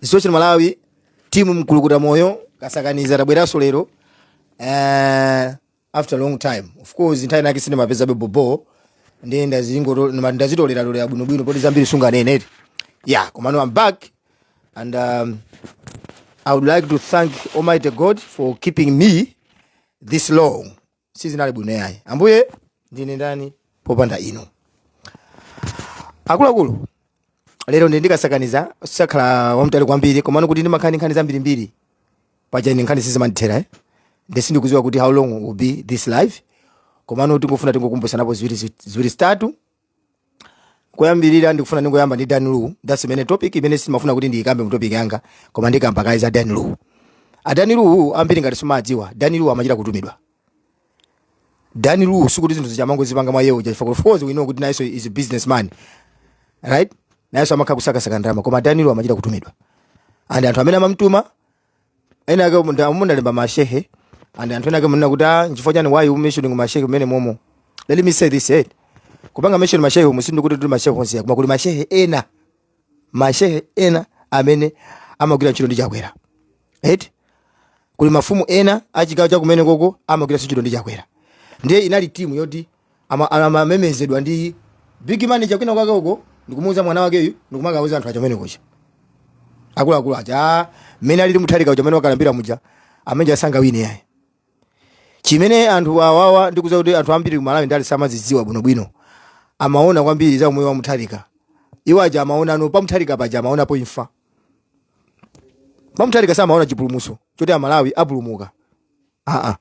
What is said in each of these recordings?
social malawi timu mkulukuta moyo kasakaniza tabweranso lero uh, after long time of course nthawi nake sindimapezabe bobo nde ndazingo- ndima- ndazitoleratolera bwinobwino poti zambiri sunganeneri yeah komano i'm back and um, i would like to thank almighty god for keeping me this long sizinali bwino yayi ambuye ndine ndani popanda inu akuluakulu lero ndi ndikasakaniza sakhala wamtali kwambiri komano kuti ndimakhala ndi nkhani zambirimbiri paja ine nkhani sizimandithera eh? nde sindikuziwa kuti how long will be this live komano tingofuna tingokumbutsanapo ziwiri zi- ziwiri zitatu koyambirira ndikufuna ndingoyamba ndi dan lu that's the main topic imene simafuna kuti ndiyikambe mu topic yanga koma ndikamba kaye za dan lu a dan lu ambiri ngati simadziwa dan lu amachita kutumidwa dan lu sikuti zinthu zija amangozipanga mwa yewo chifukwa of course we know kuti nayenso is a businessman right nayenso amakhala kusakasaka ndalama koma dan lu amachita kutumidwa and anthu amene amamtuma ena ake umu ndalemba mashehe and anthu ena ake munena kuti ah nchifukwa chani why you mentioning mashehe mmene momo let me say this eh kupanga mention mashehe umu sindikuti tuli mashehe onse koma kuli mashehe ena mashehe ena amene amagwira ntchito ndi chakwera right kuli mafumu ena achigawo chakumene koko amagwira ntchito ndi chakwera ndiye inali timu yoti ama- amamemezedwa ndi big manager kwina kwake uko ndikumuuza mwana wakeyu ndikumakauza anthu aja amene kuja akuluakulu aja "Ah, mmene alili mutharika uja amene wakalambira muja amene uja sangawine yayi chimene anthu awawa ndikuza kuti anthu ambiri ku malawi ndali samazidziwa bwinobwino amaona kwambiri za umoyo wa mutharika iwo aja amaona ah no pamutharika paja amaonapo imfa pamutharika samaona chipulumuso choti amalawi apulumuka aa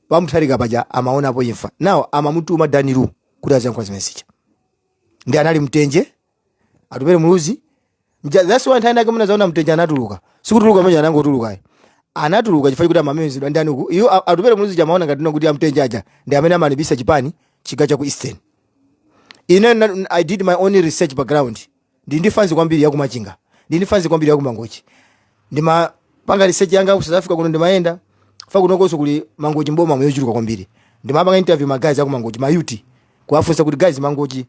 pamutharika paja amaonapo imfa now amamutuma dan lu kuti aziyankhula zimene zija ndi anali mtenje atupere muluzi Mja- that's why nthawi nake munazaona mtenje anatuluka sikutuluka mwenye anangotulukayo anatuluka chifukwa chakuti amamemezedwa ndani uku iwo a- atupere muluzi aja amaona ngati no kuti amtenje aja ndi amene amalimbisa chipani chigawo cha ku eastern ine na- i did my own research background ndili ndi fanzi kwambiri ya kumachinga ndili ndi fanzi kwambiri ya kumangochi ndimapanga research yanga ku south africa kuno ndimayenda fa kunokonso kuli mangochi mboma yochuluka kwambiri ndimapanga interview ma guys aku mangochi ma youth kuwafunsa kuti guys mangochi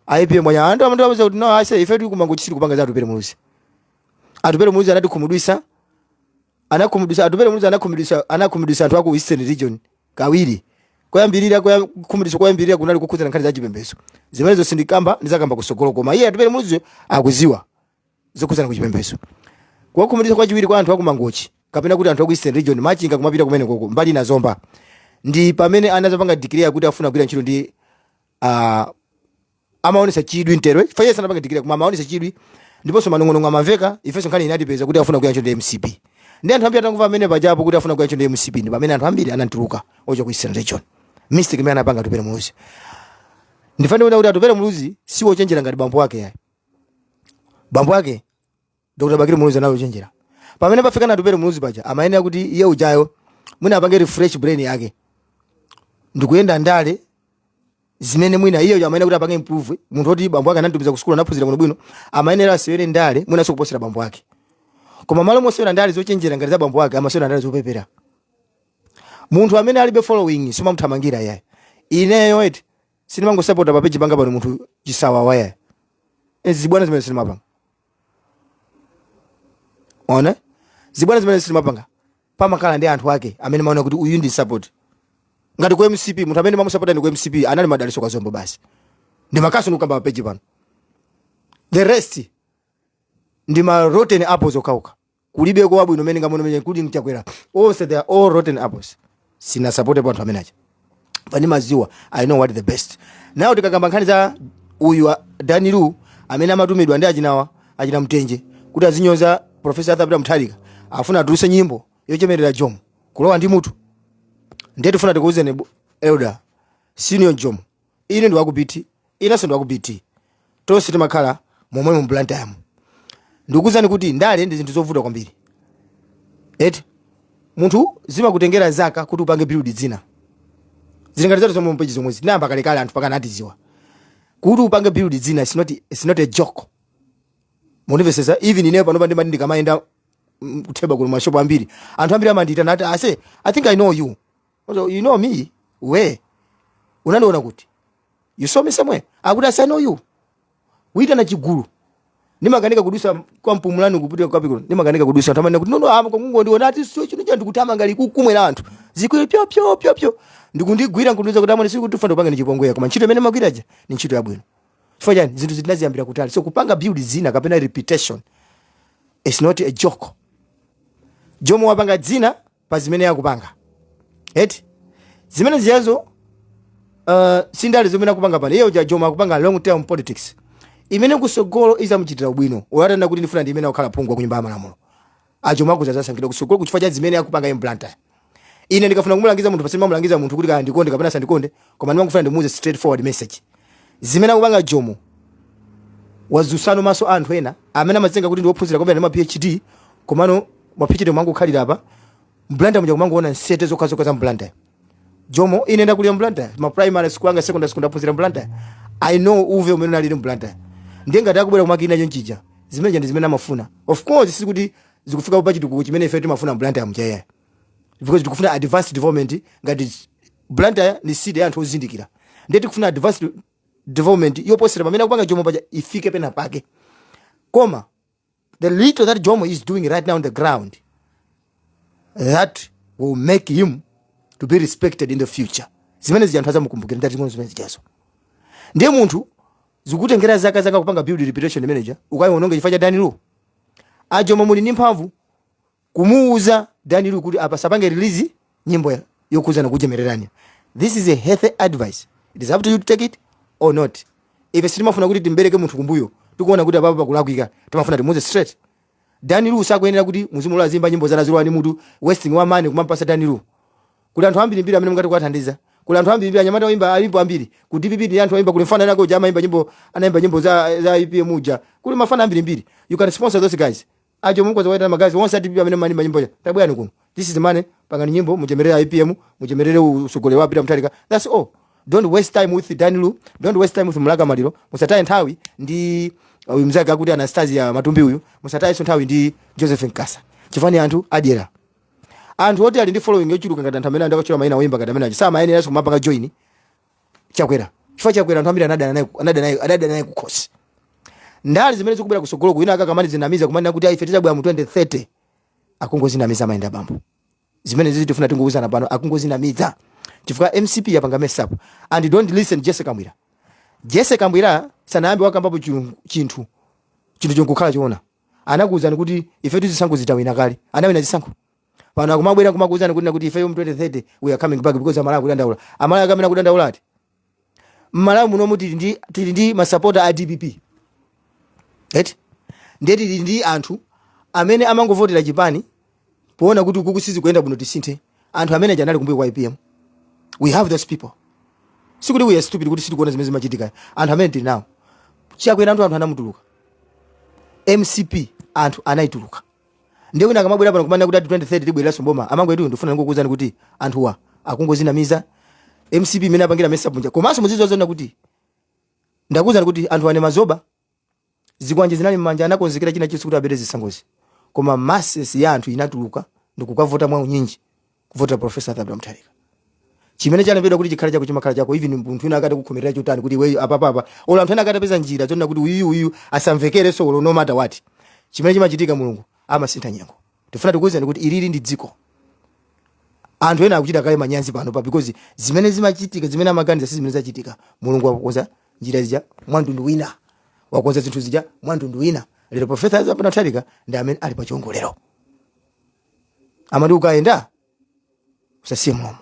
aipm mwanya anthu amandiuza kuti no ase ife tili ku mangochi sili kupanga za atupere muluzi atupere muluzi anatikhumudwisa anakhumudwisa atupere muluzi anakhumudwisa anakhumudwisa anthu aku eastern region kawiri koyambirira koya- kukhumudwitsa koyambirira kunali kukhudzana nkhani za chipembedzo zimenezo sindikamba ndizakamba kusogolo koma iye atupere muluzi akuziwa zokhudzana ku chipembedzo kuwakhumudwitsa kwachiwiri kwa anthu akumangochi kapena kuti anthu aku eastern region machinga kumapita kumene koko mbali na zomba ndi pamene anazapanga declare kuti afuna kugwira ntchito ndi uh, amaonesa chidwi mterowe Faiza anapanga declare koma amaonesa chidwi ndiponso manong'onong'o amamveka ifenso nkhani inatipeza kuti afuna kugwira ntchito ndi mcp ndi anthu ambiri atangomva amene pajapo kuti afuna kugwira ntchito ndi mcp ndi pamene anthu ambiri anatuluka ochoka ku eastern region mistake imene anapanga atupere muluzi ndinene kuti atupere muluzi si wochenjera ngati bambo wake yayi bambo wake dr bakiri muluzi anali ochenjera pamene pafika na atupere muluzi paja amayenera kuti iye ujayo mwina apange refresh brain yake ndikuyenda ndale zimene mwina iyeyo amayenera kuti apange improve munthu oti bambo ake anamutumiza ku sukulu anaphunzira bwino bwino amayenera asewere ndale mwina zokuposera bambo ake koma malo mosewera ndale zochenjera ngati za bambo ake amasewera ndale zopepera munthu amene alibe following sindimamuthamangira yayi ineyo eti sindimangosapota pa peji panga pano munthu chisawawa yayi zibwana zimene sindimapanga ona zibwana zimene sindimapanga pamakhala ndi anthu ake amene maona kuti uyu ndimusapote ngati ku mcp munthu amene ndimamusapota ine ku mcp anali madaliso kazombo basi ndimakhozanso kukamba pa peji pano the rest ndi ma rotten apples okhaokha kulibeko wabwino m'mene ndikuonera m'mene including chakwera onse they are all rotten apples sinasapotepo anthu amene aja pani maziwa i know what the best nawo tikakamba nkhani za uyu a- dani lu amene amatumidwa ndi achinawa achina mtenje kuti azinyoza profesa athapita mutharika afuna atuluse nyimbo yochemerera jomo kulowa ndi mutu ndiye tifuna tikuwuzeni bu- elder senior jomo ine ndi waku bt inenso ndi waku bt tonse timakhala momwe mu blantyre mu ndikuwuzani kuti ndale ndi zinthu zovuta kwambiri eti munthu zimakutengera zaka kuti upange build dzina zilingati zatu zomwe za peji zomwezi tinayamba kalekale anthu mpakana atiziwa kuti upange build dzina it's not, it's not a joke mundimvesesa even ineyo panopa ndimati ndikamayenda mm, kutheba kuno mashopu ambiri anthu ambiri amandiitana ati ase i think i know you So, you know me where unandiona kuti you saw me somewhere akuti ase I know you ayitana chigulu ndimakanika kudusa kwa mpumulani kupita kwa piko ndimakanika kudusa anthu amene kuti kunoko amangondiona ati sio chino chantu kuti amanga likukumwera anthu zikwe pyo pyo pyo pyo ndikundigwira nkundiuza kuti amene sikuti fando panga ndichipongwera koma ntchito imene magwira aja ni ntchito yabwino chifukwa chani zinthu zitinaziyambira kutali so kupanga build zina kapena reputation is not a joke jomo wapanga dzina pa zimene akupanga eti zimene zijazo uh, sindale zimene akupanga pano iye uja jomo akupanga long term politics imene kusogolo izamuchitira ubwino olo atanena kuti ndifuna ndi ndiime akhale phungu wa ku nyumba ya malamulo jomo akhoza azasankhidwa kusogoloku chifukwa cha zimene akupanga iye mu blantyre ine ndikafuna kumulangiza munthu paja simamulangiza munthu kuti kaya andikonde kapena asandikonde koma ndimangofuna ndimuuze straightforward message zimene akupanga jomo wazusa maso a anthu ena amene amazitenga kuti ndi ophunzira kwambiri ndi ma phd komano mwapitchite kumangokhalira apa mblanda muja kumangoona msete zokhazokha za mblanda jomo ine ndakulira mblanda ma primary school anga secondary school ndaphunzira mblanda i know uve umene unalili mblanda ndiye ngati akubwera kumakina chonchija zimeneja ndi zimene amafuna of course sikuti zikufika pa chitukuko chimene ife timafuna mblanda ya mjaya because tikufuna advanced development ngati blantyre ni city ya anthu ozindikira ndiye tikufuna advanced development yoposera pamene akupanga jomo paja ifike pena pake koma the little that Jomo is doing right now on the ground, that will make him to be respected in the future. Zimene zija anthu azamukumbukira nditing'ono zimene zijazo. Ndiye munthu zikutengera zaka zaka kupanga build reputation manager, ukaiononga chifukwa cha Dan Lu. Ajomo muli ndi mphamvu kumuuza Dan Lu kuti apa asapange release nyimbo ya- yokhudzana kuchemererani this is a healthy advice it is up to you to take it or not ife sitimafuna kuti timbereke munthu kumbuyo tikuona kuti apapa pakulakwika timafuna timuuze straight Dan Lu sakuyenera kuti muzimulola aziimba nyimbo zana zilowa ndi mutu wasting wa money kumampatsa Dan Lu kuli anthu ambiri mbiri amene mungathe kuwathandiza kuli anthu ambiri mbiri anyamata oimba alipo ambiri ku dpp ndi anthu oimba kuli mfana anako uja amaimba nyimbo anaimba nyimbo za za apm uja kuli mafana ambiri mbiri you can sponsor those guys ajomo mukhoza kuwaitana ma guys onse a dpp amene mmaimba nyimbo ija tabwerani kuno this is money pangani nyimbo muchemerere apm muchemerere utsogoleri wa peter mutharika that's all don't waste time with dan lu don't waste time with mlaka maliro musataye nthawi ndi uh, uyu mzake akuti atanasio matumbi uyu musatayenso nthawi ndi joseph nkasa chifukwa ndi anthu adyera anthu oti ali ndi following yochuluka ngati anthu amene ndakutchula maina oyimba ngati amene aja samayeneranso kumapanga join chakwera chifukwa chakwera anthu ambiri anadana naye anadana naye anadana naye kukhosi ndale zimene zikubwera kutsogoloku ena akamadzinamiza kumanena kuti aife tidzabwera mu 2030 akungodzinamiza mayendabambo zimenezizi tifuna tingouzana pano akungodzinamiza chifukwa mcp yapanga mess up and don't listen jessie kabwila jessie kabwila sanayambe wakambapo chilu- chinthu chinthu chonkukhala choona anakuwuzani kuti ife zisankho tinawina kale anawina zisankho pano akumabwera kumakuuzani kunena kuti ifeyo mu 2030 we are coming back because amalawi akudandaula amalawi ake amene akudandaula ati mmalawi munomu tili ndi tili ndi masapota a dpp eti ndiye tili ndi anthu amene amangovotera chipani poona kuti ukuku sizikuyenda bwino tisinthe anthu amene aja anali kumbuyo kwa apm we have those people sikuti we are stupid kuti sitikuona zimene zimachitika anthu amene tili nawo chakwera anthu anthu anamutuluka mcp anthu anayituluka ndiye wina akamabwera pano kumanena kuti ati 2030 tibwereranso mboma amangwetu ndifuna ndingokuwuzani kuti anthuwa akungodzinamiza mcp mmene yapangira mess up muja komanso muzizoziwona kuti ndakuwuzani kuti anthu anaima zoba zikwanje zinali mmanja anakonzekera china chonse kuti abere zisankhozi koma masses ya anthu inatuluka ndikukavota mwa unyinji kuvotera profesa arthur peter mutharika chimene chalembedwa kuti chikhale chako chimakhala chako even munthu wina akati kukukhomerera chotani kuti iweyo apapapa olo anthu ena atapeza njira zonena kuti uyu uyu asamvekerenso olo no matter what chimene chimachitika mulungu amasintha nyengo tifuna tikuwuzani kuti ilili ndi dziko anthu ena akuchita kale manyazi pano pa because zimene zachitika zimene amaganiza si zimene zachitika mulungu wakonza njira zija mwamtundu wina wakonza zinthu zija mwamtundu wina lero profesa arthur peter mutharika ndi amene ali pa chiwongolero amati ukayenda usasiye mlomo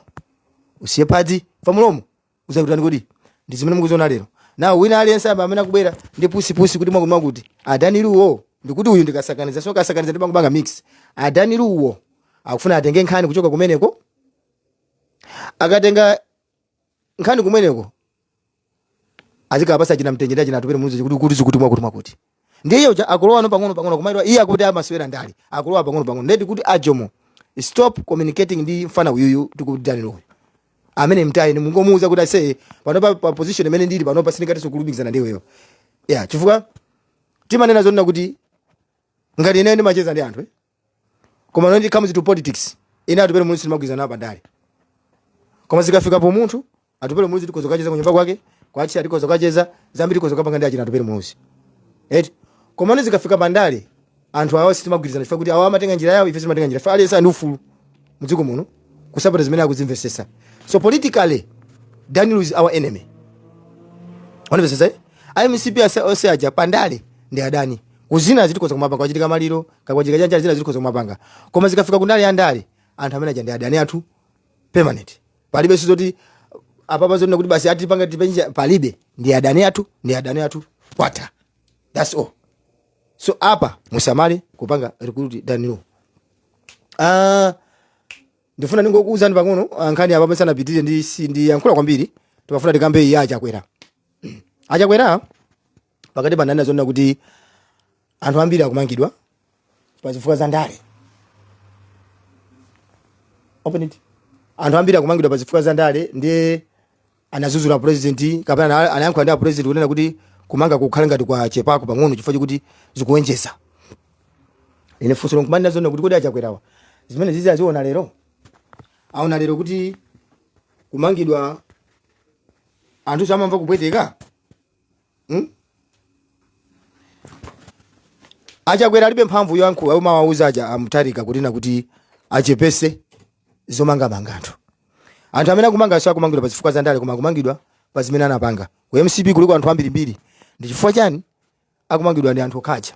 usiye phazi chifukwa mlomo uzakutsata kodi ndi zimene mukuziona lero now wina aliyense apa amene akubwera ndi pusipusi kuti mwakuti mwakuti a daniel lu-o ndikuti uyu ndikasakaniza so kasakaniza ndikungopanga mix a daniel lu-o akufuna atenge nkhani kuchoka kumeneko akatenga nkhani kumeneko azikapatsa achina mtenje achina atupele muluzi kuti kuti zikuti mwakuti mwakuti ndiye uja akulowano pang'ono pang'ono kumakhala iye akuti amasewera ndale akulowa pang'ono pang'ono ndiyetu kuti a jomo stop communicating ndi mfana uyuyu tikuti daniel uyo ameneyo mtayeni mungomuuza kuti aise panopa pa position imene ndili panopa sindingatinso kulumikizana ndi iweyo ya chifukwa timanena zonena kuti ngati ine ndimacheza ndi anthu eh? koma when it comes to politics ine atupele muluzi sitimagwirizana nawo pandale koma zikafika pa umunthu atupele muluzi tikhoza kukacheza kunyumba kwake kwake tikhoza kukacheza zambiri tikhoza kukapanga ndi achina atupele muluzi eti koma no zikafika pandale anthu awa sitimagwirizana chifukwa kuti awa amatenga njira yawo ife timatenga njira yathu aliyense ali ndi ufulu mdziko muno kusapota zimene akuzimvesesa so politically daniel is our enemy wanimvesesa mcp ase- ose aja pandale ndi adani koma zinazi tikhoza kumapanga kwachitika maliro Kaya kwachitika chiyani zinazi tikhoza kumapanga. Koma zikafika kumbali ya ndale, anthu amene aja ndi adani athu permanent. Palibe zoti apapa zonena kuti basi ati panga tipenja palibe ndi adani athu ndi adani athu kwata. That's all. So apa musamale kupanga recruit Daniel uyo. Ah ndifuna ndingokuuzani pang'ono ah, nkhani apa tisanapitirire ndi si- ndayankhula kwambiri. Timafuna tikambe ya a Chakwera. A Chakwera pakatipa ananena zonena kuti anthu ambiri akumangidwa pa zifukwa za ndale open it anthu ambiri akumangidwa pa zifukwa za ndale ndiye anadzudzula president kapena ana- anayankhula ndi a president kunena kuti kumanga kukhale ngati kwachepako pang'ono chifukwa choti zikuonjeza ine funso langa ndimanena zonena kuti kodi a chakwerawa zimenezizi aziona lero aona lero kuti kumangidwa anthu samamva kupweteka hmm? achakwera alibe mphamvu yoyankhula umawauza aja amutarika kunena kuti achepese zomangamanga anthu, anthu amene akumangawa so akumangidwa pa zifukwa zandale koma akumangidwa pa zimene anapanga ku mcp kuliko anthu ambirimbiri ndi chifukwa chani akumangidwa ndi anthu okhaja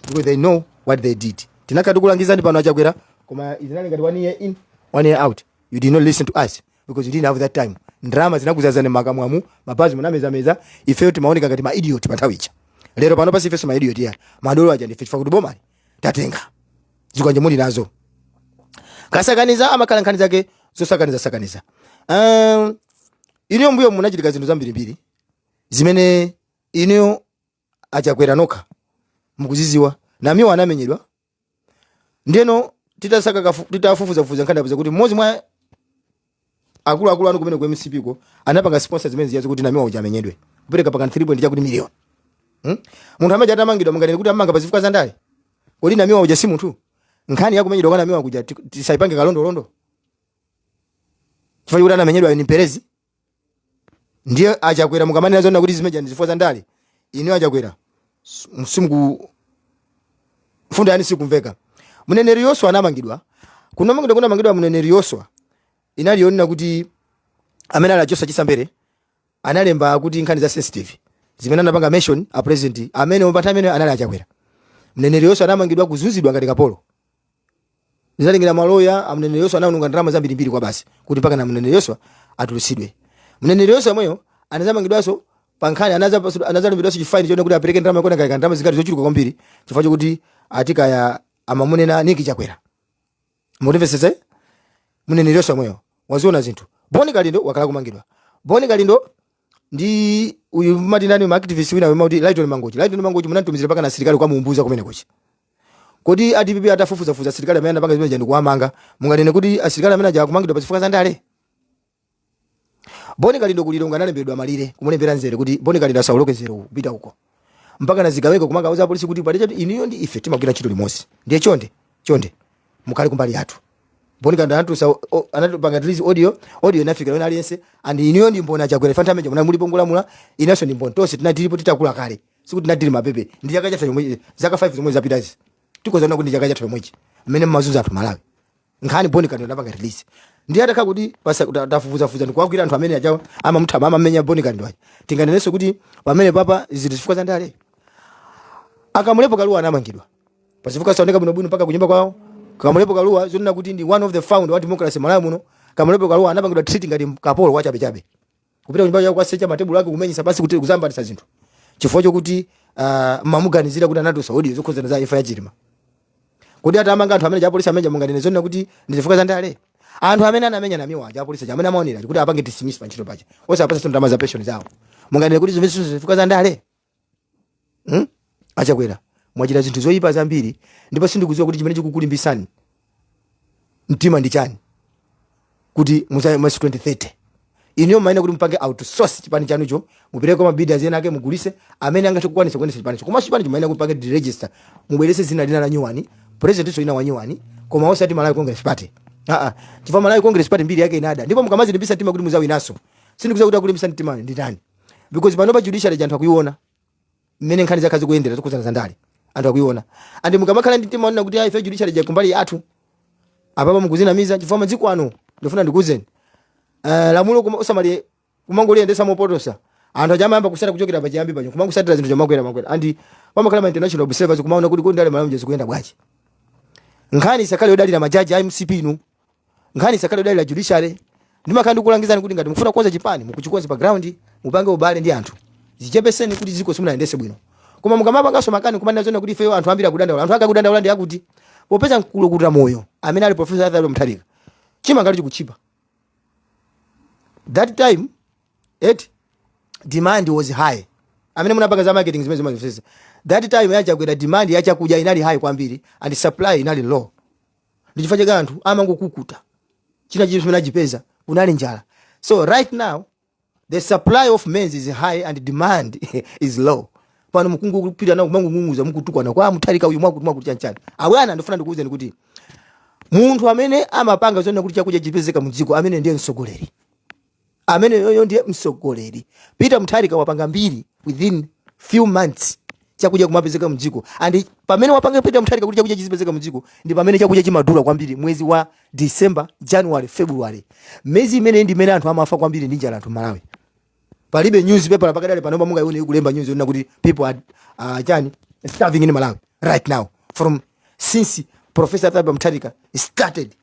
because they know what they did tinakati kulangizani pano achakwera koma zinali ngati one ear in one ear out you did not listen to us because you didn't have that time ndalama zinakuzazani makamwamu mabanzi munamezameza ifeyo timaoneka ngati maidiot panthawi ija lero pano basi ifenso maidiot ya madolo aja ndife chifukwa kuti bomali tatenga zikwanje muli nazo kasakaniza amakhala nkhani zake zosakaniza sakaniza um, inuyo mbuyo munachita zinthu zambirimbiri zimene inuyo achakwera nokha mukuziziwa namiwa anamenyedwa ndeno titasaka kafu- titafufuzafufuza nkhani tapeza kuti mmodzi mwa akuluakulu anu kumene ku mcp ko anapanga sponsor zimene zijazi kuti namiwa uja amenyedwe kupereka pakana 3 point chakuti miliyoni hmm? munthu ameneuja atamangidwa munganene kuti amanga pa zifukwa za ndale kodi namiwa uja si munthu nkhani yakumenyedwa kwa namiwa kuja ti- tisaipange kalondolondo chifukwa kuti anamenyedwa ni mperezi ndiye achakwera mukamanena zoona kuti zimene zija ndi zifukwa za ndale ine achakwera sim- simku mfundo yanu sikumveka mneneri yoswa anamangidwa kunamangidwa kunamangidwa mneneri yoswa inali yonena kuti amene ali a joshua chisa mbele analemba kuti nkhani za sensitive zimene anapanga mention a president amene pa nthawi imene anali achakwera mneneri yoswa anamangidwa kuzunzidwa ngati kapolo zinatengera maloya a mneneri yoswa anaononga ndalama zambirimbiri kwa basi kuti mpaka na mneneri yoswa atulutsidwe mneneri yoswa yemweyo anazamangidwanso pa nkhani anaza- anazalamulidwanso chifaini chonena kuti apereke ndalama yokwana kaya ndalama zingati zochuluka kwambiri chifukwa chokuti ati kaya amamunena niki chakwera mutimvesese mneneri yoswa yemweyo waziona zinthu boni kalindo wakhala kumangidwa boni kalindo ndi uyu mati nani maactivist wina wena amati lighton mangochi lighton mangochi munamtumizira mpaka na asilikali ku mzuzu kumene kuja Kodi a dpp atafufuzafuza asilikali amene anapanga zimeneja ndi kuwamanga, munganene kuti asilikali amene aja akumangidwa pa zifukwa za ndale? Boni Kalindo ku Lilongwe analembedwa malire kumulembera nzere kuti Boni Kalindo asawoloke nzere uwu kupita uko. Mpaka na zigawenga kumakauza apolisi kuti pajatu inuyo ndi ife timagwira ntchito limodzi. Ndiye chonde, chonde. Mukhale kumbali yathu. Boni Kalindo anatulutsa o- o- anachita kupanga release audio, audio inafika kwa aliyense and inuyo ndi mbona chakwera panthawi imene ija munalipo mukulamula, inenso ndi mbona tonse tinalipo titakula kale. sikuti tinali mabebe ndi chaka chatha chomwe zaka 5 zomwe zapitazi tikhoza kunena kuti chaka chatha chomwechi mmene mmazunzira anthu malawi nkhani boni kalindo anapanga release ndiye atakhala kuti basi kuti atafufuza fufuza ndi kuwagwira anthu amene ajawa amamthama amamenya boni kalindo aja tinganenenso kuti pamene paja ndi zifukwa za ndale akamulepo kaluwa anamangidwa pazifukwa zosaoneka bwino bwino mpaka kunyumba kwawo kamulepo kaluwa zonena kuti ndi one of the founder wa democracy malawi muno kamulepo kaluwa anapangidwa treat ngati kapolo wachabechabe kupita kunyumba kwao kwasecha matebulo ake kumenyesa pansi kuti kuzambatisa zinthu chifukwa chokuti uh, mamuganizira kuti anatulusa audio zokhudzana za imfa ya chilima kodi atamanga anthu amene aja apolisi amene munganene zonena kuti ndi zifukwa za ndale anthu amene anamenya namiwa aja apolisi amene amaonera kuti apange dismiss pa ntchito paja osapasa ndalama za pension zawo munganene kuti zimenezi zifukwa za ndale hmm? a chakwera mwachita zinthu zoyipa zambiri ndipo sindikudziwa kuti chimene chikukulimbisani mtima ndi chani kuti muzawina mu 2030 inuyo mumayenera kuti mupange outsource chipani chanucho mupereke kwa ma bidders ena ake mugulise amene angathe kukwanisa kuyendesa chipanicho komanso chipanicho mumayenera kuti mupange deregister mubwerese dzina lina la nyuwani presidentinso wina wa nyuwani koma osati malawi congress party aa chifukwa malawi congress party mbiri yake inada ndipo mukamazilimbisa mtima kuti muzawinaso sindikudziwa kuti akulimbisa mtima ndi ndani because panopa judiciary ija anthu akuiona mmene nkhani zakhala zikuyendera zokhudzana za ndale anthu akuiona and mukamakhala ndi mtima wonena kuti ayi ife judiciary ija kumbali yathu apapa mukuzinamiza chifukwa masiku ano ndifuna ndikuuzeni uh, lamulo kuma- usamali kumangoliyendesa mopotosa anthu aja amayamba kusata kuchokera pachiyambi pacho kumangosatira zinthu chamakwera makwera and pamakhala ma international observers kumaona kuti kodi ndale malamulo zikuyenda bwanji nkhani isakhale yodalira majaji a mcp inu nkhani isakhale yodalira judiciary ndimakhala ndikukulangizani kuti ngati mukufuna kukonza chipani mukachikonze pa ground mupange ubale ndi anthu zichepeseni kuti dziko simunayendese bwino koma mukamapanganso makani kumanena zona kuti ifeyo anthu ambiri akudandaula anthu ake akudandaula ndi akuti popeza mkulukuta moyo amene ali profesa arthur mutharika chimanga chikutchipa that time eti demand was high amene munapanga za marketing zimene zimazifesa that time ya chakwera demand yachakudya inali high kwambiri and supply inali low ndi chifukwa chake anthu amangokukuta china chili chimene achipeza kunali njala so right now the supply of maize is high and demand is low pano mukungopita nawo kumang'ung'uza mukutukwana kwa mutharika uyu mwakuti mwakuti chanchani abwana ndifuna ndikuwuzeni kuti munthu amene amapanga zoona kuti chakudya chipezeka mu dziko amene ndiye mtsogoleri ameneyoyo ndiye msogoleri peter mutharika wapanga mbiri within few months chakudya kumapezeka mdziko and pamene wapanga peter mutharika kuti chakudya chizipezeka mdziko ndi pamene chakudya chimadula kwambiri mwezi wa december january february miyezi imeneyi ndi imene anthu amafa kwambiri ndi njala anthu mmalawi palibe newspaper pakadali panopa mungaione ikulemba news yonena kuti people are uh, chani starving in malawi right now from since professor arthur mutharika started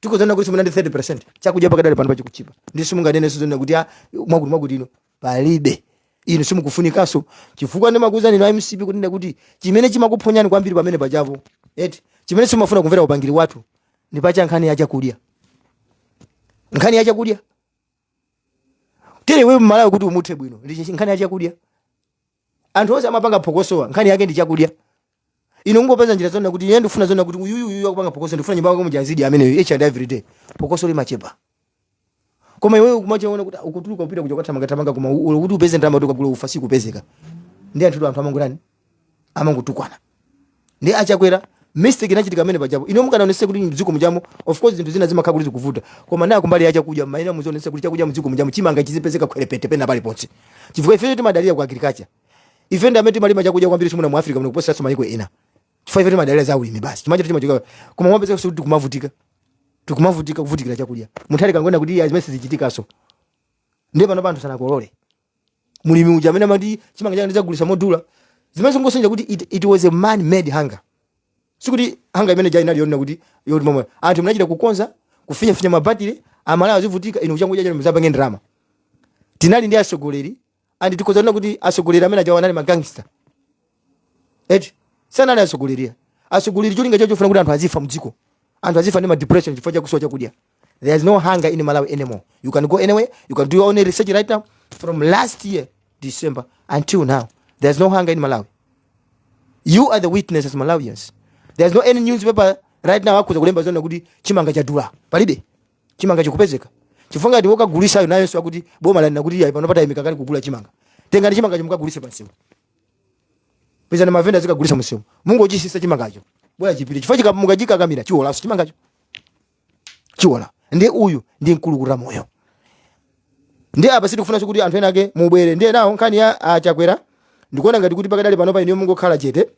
tikudzana kuti simunandi 30 percent chakudya pakadali panopa chikuchipa ndiye simunganenenso zonena kuti ah, mwakuti mwakuti ino palibe inu simukufunikanso chifukwa ndimakuwuzani inu a mcp kunena kuti chimene chimakuphonyani kwambiri pamene pajapo eti chimene simumafuna kumvera upangiri wathu ndi paja nkhani ya chakudya nkhani ya chakudya tere wewe mmalawi kuti umuthe bwino ndi nkhani ya chakudya anthu onse amapanga phokosowa nkhani yake ndi chakudya inu kungopeza njira zonena kuti ine ndifuna zonena kuti uyuyu uyu akupanga phokoso ndifuna nyumba yako muja azidya ameneyo each and every day phokoso limachepa koma iwewe ukumachiona kuti ukutuluka kupita kuja kwathamangathamanga koma u- kuti upeze ndalama kuti ukagule ufa sikupezeka ndi anthu anthu amangotani amangotukwana ndi achakwera mistake inachitika amene pajapo inu mukanaonesa kuti mdziko mujamo of course zinthu zina zimakhala kuti zikuvuta koma naye kumbali ya chakudya maina muzionesa kuti chakudya mdziko mujamo chimanga chizipezeka khwerepete pena paliponse chifukwa ifeyo timadalira ku agriculture ife ndi amene timalima chakudya kwambiri chimuna mu africa muno kuposeranso mayiko ena chifukwa ife timadalira za ulimi basi chimacho timachoka koma mwapezeka kuti tikumavutika tikumavutika kuvutikira chakudya mutharika angonena kuti iye aa zimene sizichitikanso ndiye panopa anthu sanakolole mulimi uja amene amati chimanga changa ndidzagulisa modula zimene zingosonyeza kuti it, it was a man made hunger sikuti hunger imene ija inali yonena kuti yoti momwe anthu munachita kukonza kufinyafinya mabatire amalawi azivutika inu kuchangoja chanu muzapange ndalama tinali ndi atsogoleri and tikhoza kunena kuti atsogoleri amene ajawa anali magangster eti sanali atsogoleri atsogoleri cholinga chawo chofuna kuti anthu azifa mdziko anthu azifa ndi madepression chifukwa chakusowa chakudya There is no hunger in Malawi anymore. You can go anywhere. You can do your own research right now. From last year, December, until now, there's no hunger in Malawi. You are the witness as Malawians. There's no any newspaper right now akhoza kulemba zonena kuti chimanga chadula. Palibe. Chimanga chikupezeka. Chifukwa ndi wokagulisayo nayenso akuti boma lanena kuti yayi panopa taimika kaye kugula chimanga. Tengani chimangachi mukagulise pansewu. Pezani mavenda azikagulisa msewu. Mungochitsitsa chimangacho. Bola chipite. Chifukwa chika- mukachikakamira chiwolanso chimangacho. chiwola ndiye uyu ndi mkulukutamoyo ndiye apa sitikufunanso kuti anthu ena ake mubwere ndiye nawo nkhani ya achakwera ndikuona ngati kuti pakadali panopa inuyo mungokhala chete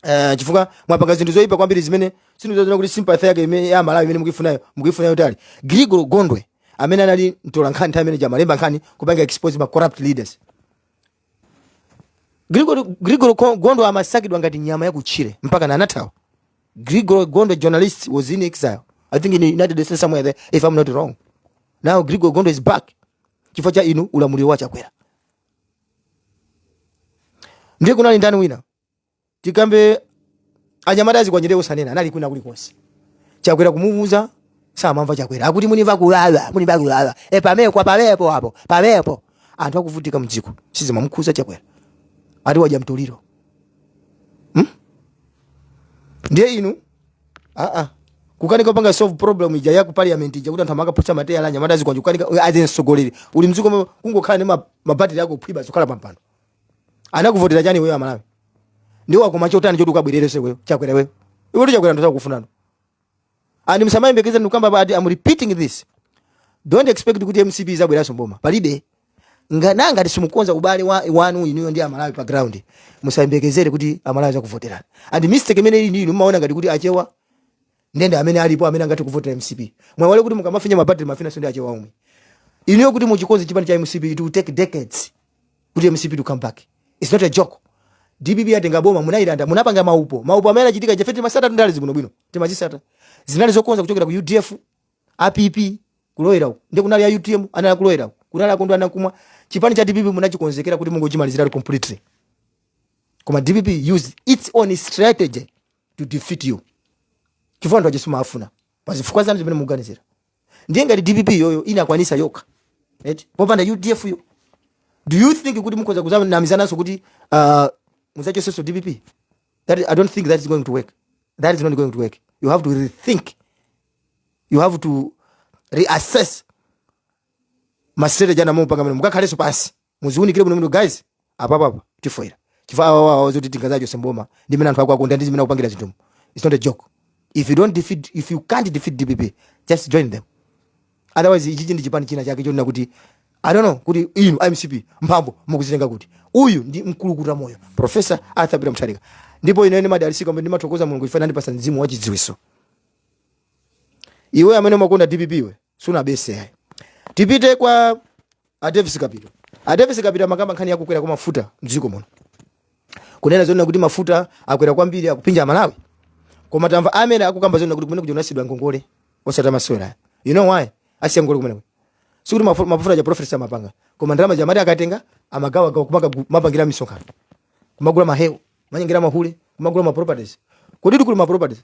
Uh, chifukwa mwapanga zinthu zoyipa kwambiri zimene sindizoona kuti sympathy yake imene ya amalawi imene mukuifunayo mukuifunayo pali gregory gondwe amene anali mtolankhani nthawi imene ija amalemba nkhani kupanga expose ma corrupt leaders Gregory Gregory Ko- Gondwe amasakidwa ngati nyama ya kutchire mpakana anathawa. Gregory Gondwe journalist was in exile. I think in the United States somewhere there if I'm not wrong. Now Gregory Gondwe is back. Chifukwa cha inu ulamuliro wa Chakwera. Ndiye kunali ndani wina? tikambe anyamata azikwanje osanena anali kwina kuli konse chakwera kumuuza samamva chakwera akuti munimva kulala munimva kulala e pamepo kwa pamepo apo pamepo anthu akuvutika mdziko sizimamukhuza chakwera ati wadya mtoliro hmm? ndiye inu aa kukanika kupanga solve problem ija ya ku parliament ija kuti anthu amakaphwetsa matayala anyamata azikwanje kukanika as mtsogoleri uli mdziko mo- kungokhala ndi ma- mabatire ako phwiba zokhala pampando anakuvotera chiyani wewe amalawi udawakomera chotani choti ukabwererenso iweyo chakwera wewe iwe chakwera anthu sakufunanso and msamayembekeza ndikukamba basi i'm repeating this don't expect kuti mcp izabweranso mboma palibe ngana ngati simukonza ubale wanu inuyo ndi amalawi pa ground musayembekezere kuti amalawi azakuvoterani and mistake imene ili ndinu mumaona ngati kuti achewa ndiye amene alipo amene angathe kuvotera mcp mwaiwala kuti mukamafinya mabatiri mumafinyanso ndi achewa omwe inuyo kuti muchikonze chipani cha mcp it will take decades kuti mcp to come back its not a joke dpp yatenga boma munayilanda munapanga maupo, maupo amene anachitika ifeyo timasata ndale zibwino bwino timazisata zinali zokonza kuchokera ku udf app kulowera uko ndi kunali ya utm anali kulowera uko kunali a kondwani nankhumwa chipani cha dpp munachikonzekera kuti mungochimaliziratu completely koma dpp used its own strategy to defeat you chifukwa anthu achisu amafuna pazifukwa zanu zimene mukuganizira ndiye ngati dpp iyoyo inakwanisa yokha eti popanda udf yo do you think kuti mukhoza kuzanamizananso kuti uh, muzachosenso dpp that, i don't think that is going to work that is not going to work you have to rethink you have to reassess mastrategy anu mupange mwina mukakhalenso pansi muziunikire bwino bwino guys apapapa tifoira chifukwa awawawa zoti tingazachose mboma ndi mmene anthu akuwakondera ndi zimene akupangiramo zinthu its not a joke if you don't defeat if you can't defeat dpp just join them otherwise ichichi ndi chipani china chake chonena kuti i don't know kuti inu mcp mphamvu mukuzitenga kuti uyu ndi mkulukuta moyo professor arthur peter mutharika ndipo ine ine madalisika amene ndimathokoza mulungu chifukwa anandipasa mzimu wachidziwiso iwe amene umakonda dpp iwe sunabetse ayi tipite kwa a davis kapito a davis kapito amakamba nkhani yakukwera kwa mafuta mdziko muno kunena zonena kuti mafuta akwera kwambiri akufinya amalawi koma tamva amene akukamba zonena kuti kumene kujonasidwa ngongole osati masewera you know why asiya ngongole kumeneko sikuti mafu- mafuta aja profesa amapanga koma ndalama zija amati akatenga amagawagawa kumaka- kumapangira misonkhano kumagula mahewu kumanyengera mahule kumagula maproperties kodi ti kuli maproperties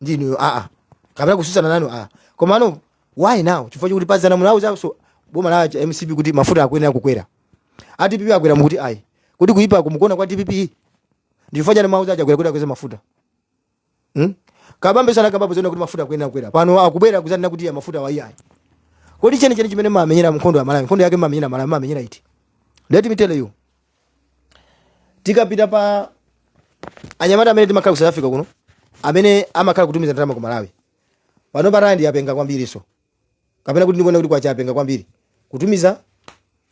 ndinu aa ah, kapena kususana nanu aa ah. komano why now chifukwa chakuti pazana munauzanso boma la mcp kuti mafuta akuyenera kukwera a dpp akweza mukuti ayi kuti kuyipa kumukuona kwa dpp ndi chifukwa chani simumauza achakwera kuti akweza mafuta hmm? kabambe anakambapo zonena kuti mafuta akuyenera kukwera pano akubwera kuzanena kuti ya mafuta awa iyayi kodi cheni cheni chimene mumamenyera nkhondo ya amalawi nkhondo yake mumamenyera amalawi mumamenyera iti let me tell you tikapita pa anyamata amene timakhala ku south africa kuno amene amakhala kutumiza ndalama ku malawi pano pa rand yapenga kwambiri so kapena kuti ndikuona kuti kwacha yapenga kwambiri kutumiza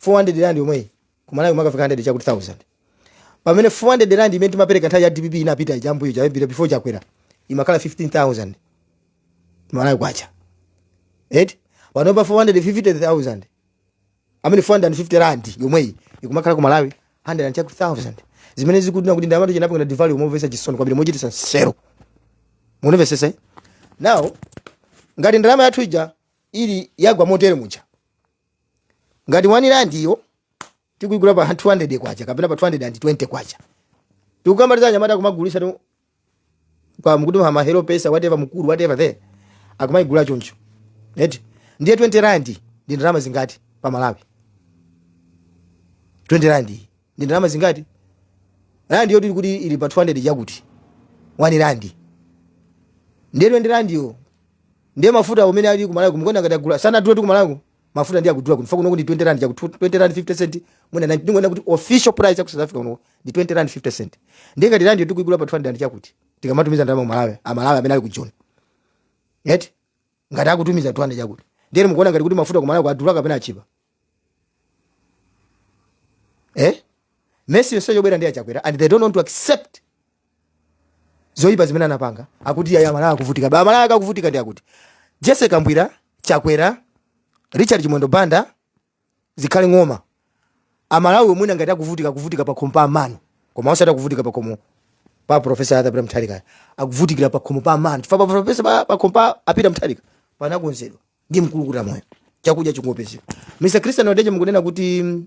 400 rand yomweyi ku malawi imakafika 100 chakuti 1000 pamene 400 rand imene timapereka nthawi ya dpp inapita ija mbuyo chiyambire before chakwera imakhala 15000 malawi kwacha eti pano pa 450000 amene 450 rand yomweyi ikumakhala ku malawi 100000 zimene zikunena kuti ndalamatu inapanga devalue momvesa chisoni kwambiri mochitisa nseru mundimvesese eh? now ngati ndalama yathu ija ili yagwa motere muja ngati 1 rand iyo tikuyigula pa 200 kwacha kapena pa 220 kwacha tikamaliza anyamata akumagulisa tu kwa mkuti ma Hello Paisa whatever Mukuru whatever there akumaigula choncho eti ndiye 20 rand ndi ndalama zingati pa Malawi 20 rand ndi ndalama zingati rand iyo tikuti ili pa 200 chakuti 1 rand ndiye 20 rand yo ndiye mafuta amene ali ku Malawi kumkonda ngati agula sana tulo tu ku Malawi mafuta ndiye akudula kuti fa kunoku ndi 20 rand chakuti 20 rand 50 cent mwina 90 ndingoona kuti official price ya ku South Africa kuno ndi 20 rand 50 cent ndiye ngati rand yo tikuigula pa 200 rand chakuti tikamatumiza ndalama ku Malawi a Malawi amene ali ku Joni ngati akutumiza 200 chakuti ndiye mukuona ngati kuti mafuta ku Malawi adula kapena achipa eh mess yonseyo yobwera ndi achakwera and they don't want to accept zoyipa zimene anapanga akuti yaya amalawi akuvutika ba amalawi akuvutika ndiye akuti jessie kabwila chakwera richard chimwendo banda zikhale ng'oma amalawi omwe ngati akuvutika akuvutika pakhomo pa amanu koma osati akuvutika pakhomo pa professor arthur peter mutharika akuvutikira pakhomo pa amanu chifukwa pa professor pa- pakhomo pa a peter mutharika panakonzedwa ndi mkulukuta moyo chakudya chingopezeka mr christian wadeje mukunena kuti mm,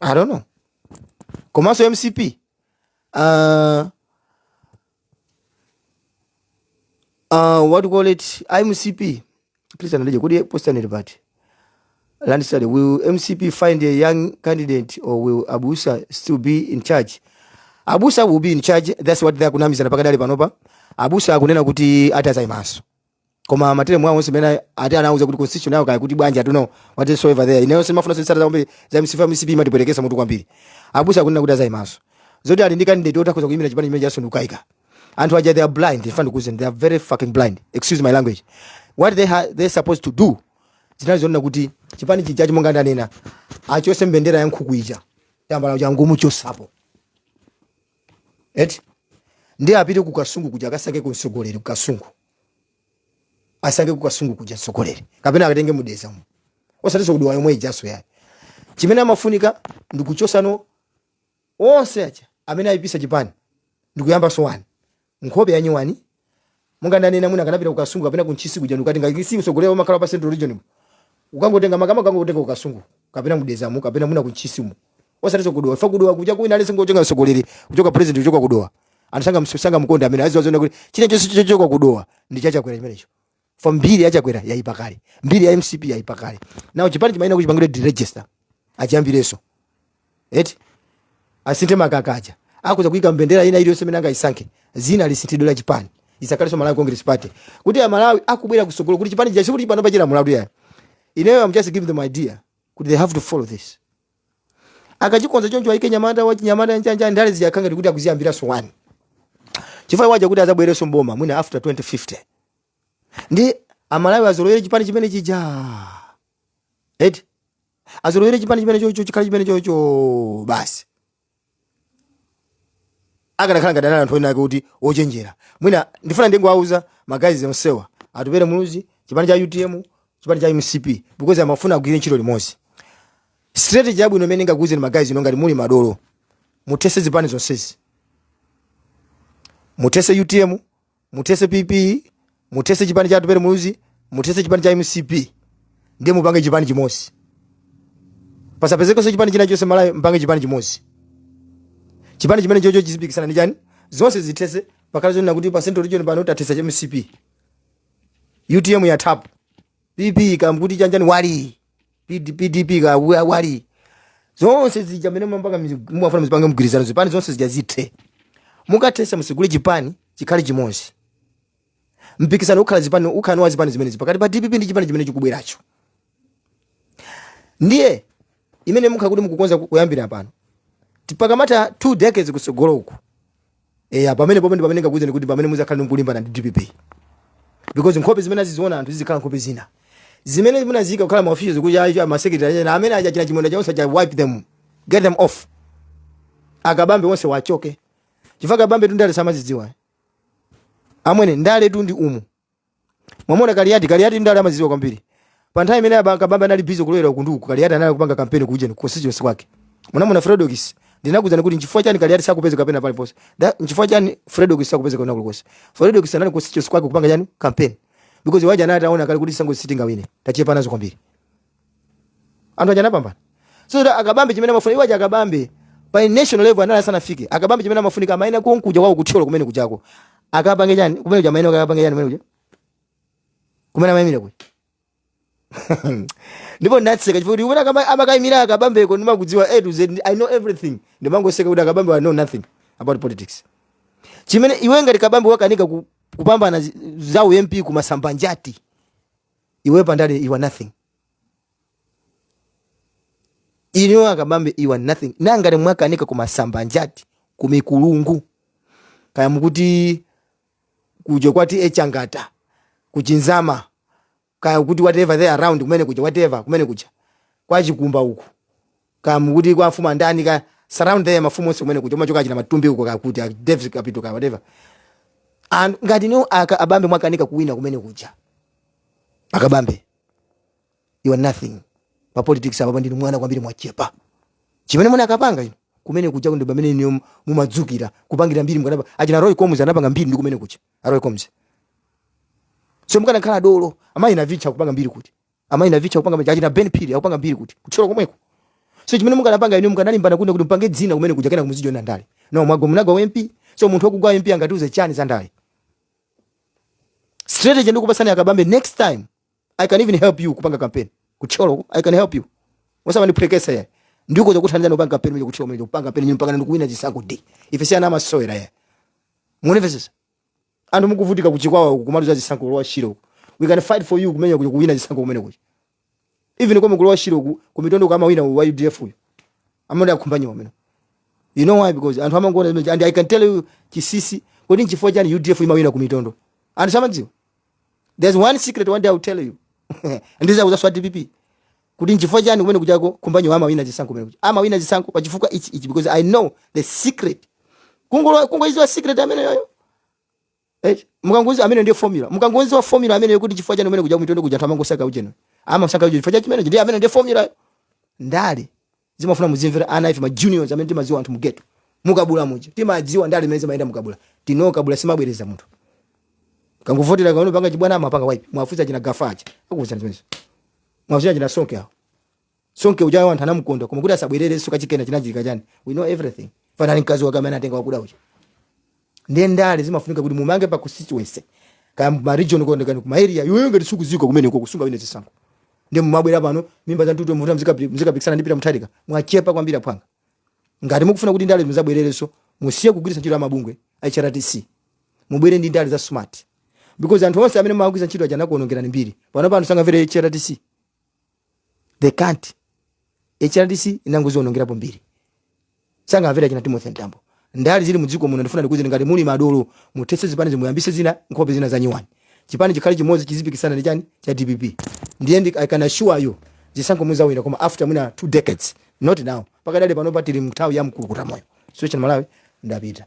i don't know komanso mcp uh, uh, what do you call it mcp christian wadeje akuti post on the party landslide will mcp find a young candidate or will abusa still be in charge abusa will be in charge that's what they akunamizana pakadali panopa abusa akunena kuti ati azaimanso koma materemu awo onse amene ati anawauza kuti constitution yawo kaya kuti bwanji atuno whatsoever there ineyo simafuna kusata kwambiri za mcp mcp imatipwetekesa mutu kwambiri abusa akunena kuti azayimanso zoti ali ndi candidate otakhoza kuyimira chipani chimene chijaso ndukaika anthu aja they are blind in fact kuzanena they are very fucking blind excuse my language what they ha, they supposed to do zinali zonena kuti chipani chijachi monga ndanena achose mbendera ya nkhuku ija tambala chakuti amuchosepo eti ndiye apite ku kasungu kuja akasakeko mtsogoleri ku kasungu asake ku kasungu kuja mtsogoleri kapena akatenge mu dedzamo osatinso ku dowa yomwe ijaso yayi chimene amafunika ndi kuchosano onse aja amene ayipisa chipani ndi kuyambanso wani nkhope yanyuwani monga ndanena mwina akanapita ku kasungu kapena ku ntchisi kuja ndikuti ngati nkasi mtsogoleri amakhala pa central region mu ukangotenga makama ukangotenga ku kasungu kapena mu dedzamo kapena mwina ku ntchisi mu osatiso ku dowa fa ku dowa kuja mwina akangotenga mtsogoleri kuchoka president kuchoka ku dowa anthu sanga msu- sanga mkonda amene azizaona kuti chinachilichonse chochoka ku dowa ndi cha chakwera chimenecho for mbiri ya chakwera yayipa kale mbiri ya mcp yayipa kale now chipani chimayenera kuchipangira deregister achiyambireso eti asinthe makaka aja akudza kuyika mbendera ina iliyonse imene angayisankhe dzina lisinthidwe la chipani lisakhalenso malawi congress party kuti amalawi akubwera kusogolo kuti chipani chija chokuti panopa chija malawi yayi ineyo am just give them idea kuti they have to follow this akachikonza choncho ayike mnyamata wachinyamata njanja ndale zija akhala ngati akuziyambira zero one chifukwa iwo aja kuti azabwereso mboma mwina after 2050 ndi amalawi azolowere chipani chimene chija eti azolowere chipani chimene chocho chikhale chimene chocho basi akanakhala ngati anthu ena ake kuti ochenjera mwina ndifuna ndingowauza ma guys onsewa atupere muluzi chipani cha utm chipani cha mcp because amafuna agwire ntchito limodzi strategy yabwino imene ndingakuuzeni ma guys inu ngati muli madolo muthese zipani zonsezi muthese utm muthese pp muthese chipani cha atupere muluzi muthese chipani cha mcp ndiye mupange chipani chimodzi pasapezekenso chipani china chonse mmalawi mpange chipani chimodzi chipani chimene chocho chizipikisana ndi chani zonse zithese pakhale zonena kuti pa central region pano tathesa chani mcp utm yathapo pp kaya mukuti chanjani wali PD pdp kaya wa- wali zonse zija zimene mumapanga mizi- mumafuna muzipange mgwirizano zipani zonse zija zithe mukathesa musegule chipani chikhale chimodzi mpikisano ukhala zipani ukhala ni wa zipani zimenezi pakati pa dpp ndi chipani chimene chikubweracho ndiye mmene mukhale kuti mukukonza ku- kuyambira pano mpaka kumatha two decades kutsogolo uku eya pamene popo ndi pamene ndingakuwuzeni kuti pamene muzakhala nkulimbana ndi dpp because nkhope zimene aziziona anthu zizikhala nkhope zina zimene munaziika kukhala ma officials kuti ayi ma secretary ena amene aja achina chimwendo onse aja wipe them get them off akabambe onsewa achoke chifukwa kabambe tu ndale samazidziwa amwene ndale tu ndi umu mwamona kaliyati kaliyati ndale amaziziwa kwambiri pa nthawi imene aba- kabambe anali busy kulowera uku ndi uku kaliyati anali kupanga kampeni kuujeni constituency kwake munamuona fredokis ndinakuuzani kuti nchifukwa chani kaliyati sakupezeka kapena paliponse Da- nchifukwa chani fredokis sakupezeka kwina kulikonse fredokis anali constituency kwake kupanga chani kampeni because iwo aja anali ataona kale kuti sango sitingawine tachepa nazo kwambiri anthu aja anapambana so kuti akabambe chimene amafuna iwo aja akabambe pa national level anali asanafike akabambe chimene amafunika amayenera konkuja kwawo kuthyolo kumene kujako akapange chani kumene kuja amayenera akapange chani kumene kuja kumene amayimira kuja ndipo ndinaseka chifukwa kuti kumene akama- amakayimira akabambeko ndimakudziwa a to z i know everything ndimangoseka kuti akabambe know nothing about politics chimene iwe ngati kabambe wakanika ku- kupambana zi- za ump kumasamba njati iwe pandale you are nothing inuyo a Kabambe you are nothing nanga mwakanika kumasamba njati kumikulungu kaya mukuti kuja kwati echangata kuchizama kaya kuti whatever surround kumene kuja whatever kumene kuja kwachikumba uku kaya mukuti kwa mfumu ndani kaya surround there mafumu onse kumene kuja umachoka achina matumbi uko kaya kuti a davis kapito kaya whatever and ngati inuyo a kabambe mwakanika kuwina kumene kuja a kabambe you are nothing pa politics apa ndinu mwana kwambiri mwachepa chimene munakapanga inu kumene kuja ndi pamene inuyo mumadzukira kupangira mbiri mkanapa achina roy combs anapanga mbiri ndi kumene kuja a roy combs so mukanakhala dolo amayi navicha kupanga mbiri kuti amayi navicha kupanga maja achina ben phiri akupanga mbiri kuti kuthyolo komweko so chimene mukanapanga inu mukanalimbana kuno kuti mpange dzina kumene kuja kenako muzijoina ndale no mwagwa munagwa pa mp so munthu wakugwa mp angatiuze chani za ndale strategy ndikupatsani a kabambe next time i can even help you kupanga campaign kuthyolo i can help you osamandiphweketsa ya nditha kuzakuthandizani kupanga campaign mwe kuthyolo mwe kupanga campaign nyinyi mpaka ndikuwina chisankho d ife si ana amasewera ya muone sasa anthu mukuvutika ku chikwawa uku kumaluza zisankho ku lower shire uku we can fight for you kumene kuja kuwina zisankho kumene kuja even komwe ku lower shire uku kumitondo kamawina wa udf uyu amene a khumbanyiwa amene you know why because anthu amangoona zimene and i can tell you chinsinsi kodi nchifukwa chani udf imawina kumitondo anthu samadziwa there's one secret one day i will tell you ndizakuuzani a dpp kuti nchifukwa chani kumene kujako khumbanyiwa amawina zisankho kumene kuja amawina zisankho pa chifukwa ichi ichi because i know the secret kungola kungoidziwa secret imeneyoyo eh mukangodziwa imene ndiye formula mukangodziwa formula imene yokuti chifukwa chani kumene kuja kumitondo kuja thamango saka ujeno ama saka ujeno chifukwa chimene ndiye imene ndiye formula ndale zimafuna muzimvera ana ife ma juniors amene timadziwa anthu mugeto mukabula muja timadziwa ndale mmene zimayendera mukabula city ino kabula simabwereza munthu akangokuvotera akaona wapanga chibwana amapanga wipe muwafunse achina gafa aja akuwuzani zimenezo muwafunse achina sonke awo sonke ujayo anthu anamukonda koma kuti asabwererenso kachikena chinachitika chani we know everything funani mkazi wake amene atenga wakuda uja ndiye ndale zimafunika kuti mumange pa constituency kaya ma region kukondedwa kuma area yoyo ngati sukudziwika kumene ko sungawine zisankho ndiye mumabwera pano mimba za ntutu mukuti muzika muzikapikisana ndi peter mutharika mwachepa kwambiri aphwanga ngati mukufuna kuti ndale muzabwererenso musiye kugwiritsa ntchito amabungwe a HRTC mubwere ndi ndale za smart because anthu onse amene mumagwiritsa ntchito aja anakuonongerani mbiri pano pano sangamvere HRTC they can't hrdc inangozionongerapo mbiri sangamvere china timothy mtambo ndale zili mudziko muno ndifuna ndikuuze ngati muli madolo muthetse zipanizi muyambise zina nkhope zina zanyiwani chipani chikhale chimodzi chizipikisana ndi chani cha dpp ndiye ndi i can assure you zisankho muzawina koma after mwina two decades not now pakadali panopa tili mnthawi ya mkulukuta moyo sio china malawi ndapita